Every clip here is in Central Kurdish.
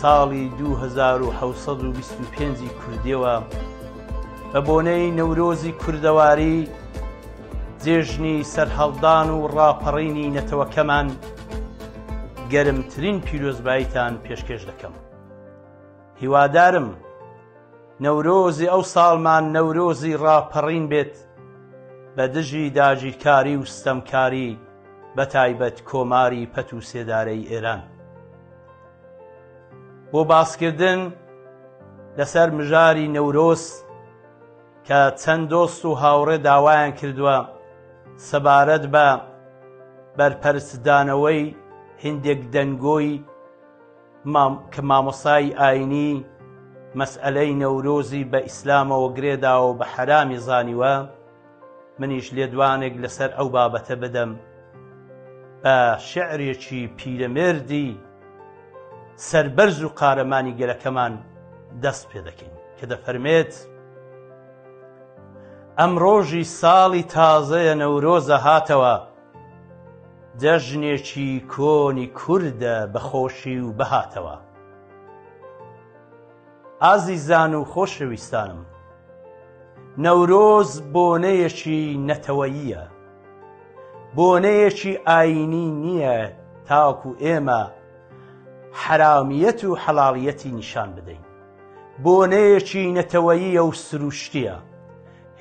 ساڵی دوو هەزار و حەوت سەد و بیست و پێنج ی کوردیەوە بە بۆنەی نەورۆزی کوردەواری جێژنی سەرهەڵدان و ڕاپەڕینی نەتەوەکەمان گەرمترین پیرۆزباییتان پێشکێش دەکەم هیوادارم نەورۆزی ئەو ساڵمان نەورۆزی ڕاپەڕین بێت بە دژی داگیرکاری و ستەمکاری بە تایبەت کۆماری پەت و سێدارەی ئێران. بۆ باسکردن لەسەر مژاری نەورۆز کە چەند دۆست و هاوڕێ داوایان کردووە سەبارەت بە بەرپەرچدانەوەی هندێک دەنگۆی کە مامۆسای ئاینی مەسئلەی نەورۆزی بە ئیسلامەوە گرێداوە بە حەرامی زانیوە منیش لێدوانێک لەسەر ئەو بابەتە بدەم بە شعرێکی پیرەمێردی سەربەرز و قارەمانی گەلەکەمان دەست پێ دەکەین کە دەفەرمێت ئەم ڕۆژی ساڵی تازەیە نەورۆزە هاتەوە جەژنێکی کۆنی کوردە بەخۆشی و بەهاتەوە ئازیزان و خۆشەویستانم، نەورۆز بۆنەیەکی نەتەوەییە، بۆنەیەکی ئایینی نییە تاکو ئێمە حەرامیەت و حەڵاڵیەتی نیشان بدەین، بۆنەیەکی نەتەوەییە و سروشتییە،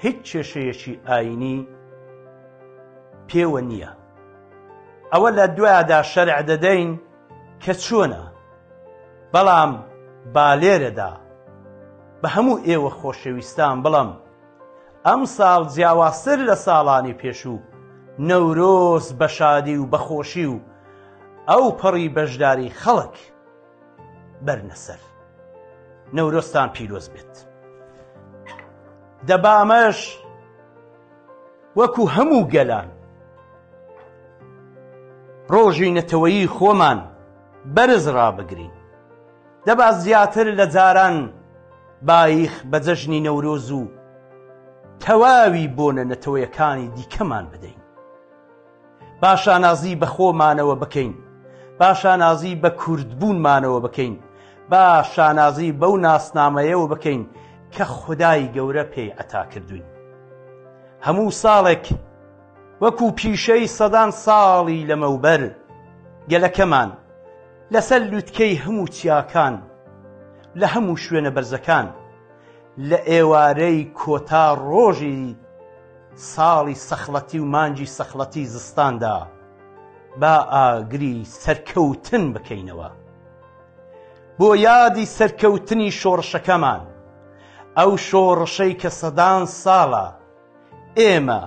هیچ کێشەیەکی ئایینی پێوە نییە. ئەوە لە دوایدا شەرع دەدەین، کە چۆنە بەڵام بالێرەدا بە هەموو ئێوە خۆشەویستان بڵم ئەم ساڵ جیاوازتر لە ساڵانی پێشوو نەورۆز بە شادی و بەخۆشی و ئەو پەڕی بەشداری خەڵک بەرنەسەر نەورۆستان پیرۆز بێت دەبامەش وەکو هەموو گەلان ڕۆژی نەتەوەیی خۆمان بەرز ڕابگرین دەبا زیاتر لە جاران باییخ بە جەژنی نەورۆز و تەواوی بۆنە نەتەوەیەکانی دیکەمان بدەین. با شانازی بە خۆمانەوە بکەین، با شانازی بە کوردبوونمانەوە بکەین، با شانازی بەو ناسنامەیەوە بکەین کە خودای گەورە پێی عەتا کردووین. هەموو ساڵێک وەکو پیشەی سەدان ساڵی لەمەوبەر گەلەکەمان لەسەر لوتکەی هەموو چیاکان لە هەموو شوێنە بەرزەکان لە ئێوارەی کۆتا ڕۆژی ساڵی سەخڵەتی و مانگی سەخڵەتی زستاندا با ئاگری سەرکەوتن بکەینەوە بۆ یادی سەرکەوتنی شۆڕشەکەمان، ئەو شۆڕشەی کە سەدان ساڵە ئێمە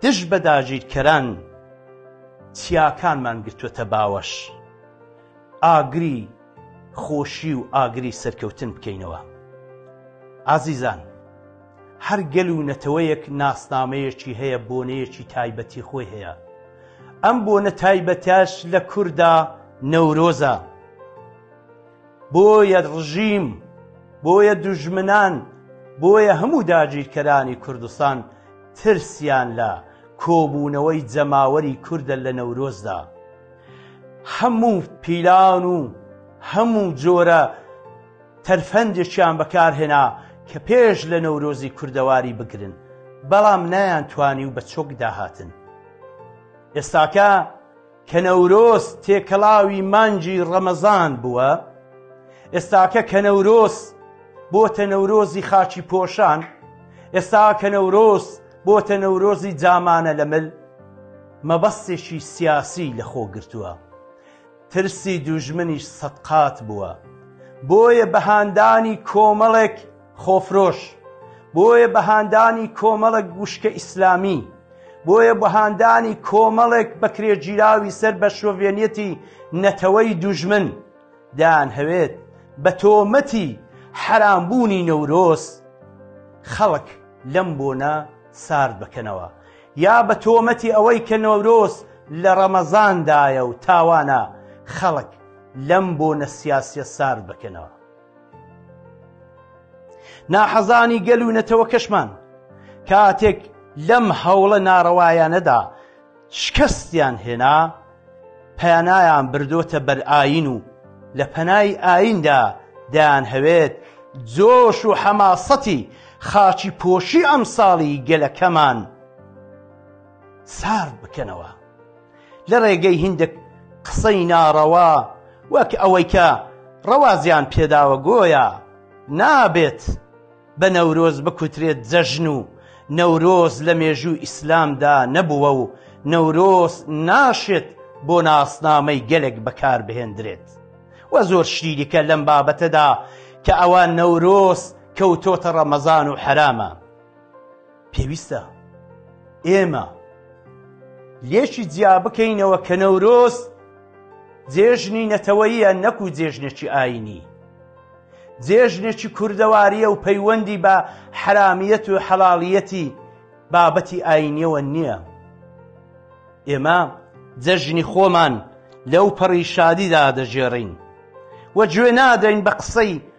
دژ بە داگیرکەران چیاکانمان گرتووەتە باوەش، ئاگری خۆشی و ئاگری سەرکەوتن بکەینەوە. ئازیزان! هەر گەل و نەتەوەیەک ناسنامەیەکی هەیە، بۆنەیەکی تایبەتی خۆی هەیە. ئەم بۆنە تایبەتەش لە کوردا نەورۆزە. بۆیە ڕژیم، بۆیە دوژمنان، بۆیە هەموو داگیرکەرانی کوردستان ترسیان لە کۆبوونەوەی جەماوەری کوردە لە نەورۆزدا. هەموو پیلان و هەموو جۆرە. تەرفەندێکیان بەکارهێنا کە پێش لە نەورۆزی کوردەواری بگرن، بەڵام نایانتوانی و بە چۆک داهاتن. ئێستاکە کە نەورۆز تێکەڵاوی مانگی ڕەمەزان بووە، ئێستاکە کە نەورۆز بۆتە نەورۆزی خاچی پۆشان، ئێستا کە نەورۆز بۆتە نەورۆزی جامانە لە مل، مەبەستێکی سیاسی لە خۆ گرتووە. ترسی دوژمنیش سەد قات بووە بۆیە بە هاندانی کۆمەڵێک خۆفرۆش بۆیە بە هاندانی کۆمەڵێک وشکە ئیسلامی بۆیە بە هاندانی کۆمەڵێک بەکرێگیراوی سەر بە شۆڤێنیەتی نەتەوەی دوژمن دەیان هەوێت بە تۆمەتی حەرامبوونی نەورۆز خەڵک لەم بۆنە سارد بکەنەوە یا بە تۆمەتی ئەوەی کە نەورۆز لە ڕەمەزاندایە و تاوانە خەڵک لەم بۆنە سیاسیە سارد بکەنەوە. ناحەزانی گەل و نەتەوەکەشمان کاتێک لەم هەوڵە ناڕەوایانەدا شکستیان هێنا، پەنایان بردۆتە بەر ئاین و لە پەنای ئایندا دەیانهەوێت جۆش و حەماسەتی خاچی پۆشی ئەمساڵی گەلەکەمان سارد بکەنەوە لە ڕێگەی هیندێک قسەی ناڕەوا وەک ئەوەی کە ڕەوازیان پێداوە گۆیا نابێت بە نەورۆز بکوترێت جەژن و نەورۆز لە مێژووی ئیسلامدا نەبووە و نەورۆز ناشێت بۆ ناسنامەی گەلێک بەکاربهێندرێت و زۆر شتی دیکە لەم بابەتەدا کە ئەوە نەورۆز کەوتۆتە ڕەمەزان و حەرامە. پێویستە ئێمە لێکی جیا بکەینەوە کە نەورۆز جێژنی نەتەوەیە نەکو جێژنێکی ئاینی جێژنێکی کوردەواریە و پەیوەندی بە حرامیەت و حەڵاڵیەتی بابەتی ئاینیەوە نییە ئێمە جەژنی خۆمان لەو پەڕی شادیدا دەژێڕین وە گوێ نادەین بە قسەی